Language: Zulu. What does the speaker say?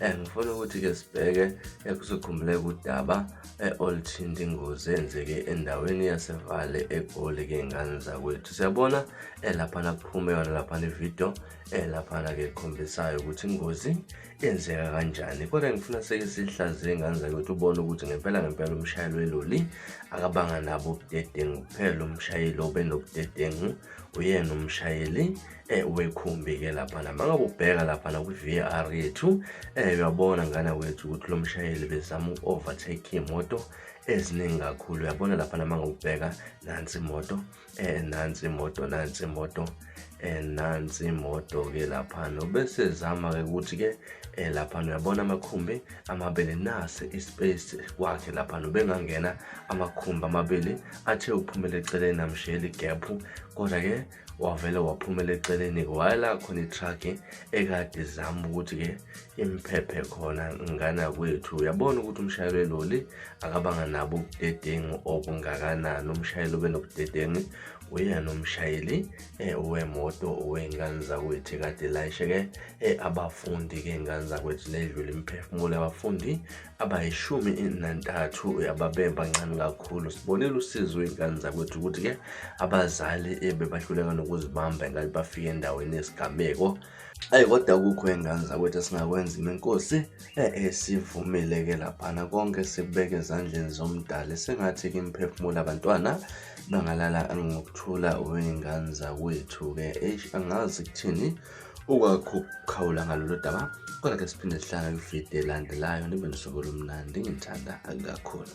Eh, ngifuna ukuthi-ke sibheke ekusikhumbule eh, kudaba oluthinta ingozi eyenzeke endaweni yasevale egoli key'ngane zakwethu siyabona eh, laphana kuphume yona laphana ividiyo laphana-ke ekhombisayo ukuthi ingozi yenzeka kanjani kodwa ngifuna seke sihlaziye ingane zakwethu ubone ukuthi ngempela ngempela umshayeli weloli akabanga nabo ubudedengu kuphela umshayeli obenobudedengu uyena umshayeli eh ubekhumbi ke lapha na mangabe ubheka lapha na kwi-VAR yethu eh uyabona ngana wethu ukuthi lo mshayeli bezama uku-overtake imoto eziningi kakhulu uyabona lapha na mangabe ubheka nansi imoto eh nansi imoto nansi imoto eh nansi imoto ke lapha no bese zama ke ukuthi ke eh lapha uyabona amakhumbi amabili nase ispace kwakhe lapha bengangena amakhumbi amabili athe uphumele eceleni amshiyela igap kodwa ke wavele waphumela eceleni-ke wayela khona itruck-ke ekade zama ukuthi-ke imphephe khona ngana kwethu uyabona ukuthi umshayeli weloli akabanga nabo ubudedengu obungakanani umshayeli obenobudedengu uyena umshayeli eh, wemoto wey'ngane zakwethu kade layishe-ke eh, abafundi-ke iy'ngane zakwethu nedlula imiphefumulo yabafundi abayishumi nantathu uyababemba ncane kakhulu sibonile usizo iy'ngane zakwethu ukuthi-ke abazali bebahluleka nokuzibamba engathi bafike endaweni yesigameko ayi kodwa kukho iy'ngane zakwethu esingakwenza imenkosi esivumile-ke laphana konke sikubeke ezandleni zomdali sengathi kimphefumula abantwana bangalala ngokuthula wey'ngane zakwethu-ke eish angazi kuthini ukwakho ukukhawula ngalolu daba kodwa ke siphinde sihlangane kwividiyo elandelayo nibe nosuku olumnandi ngithanda kakhulu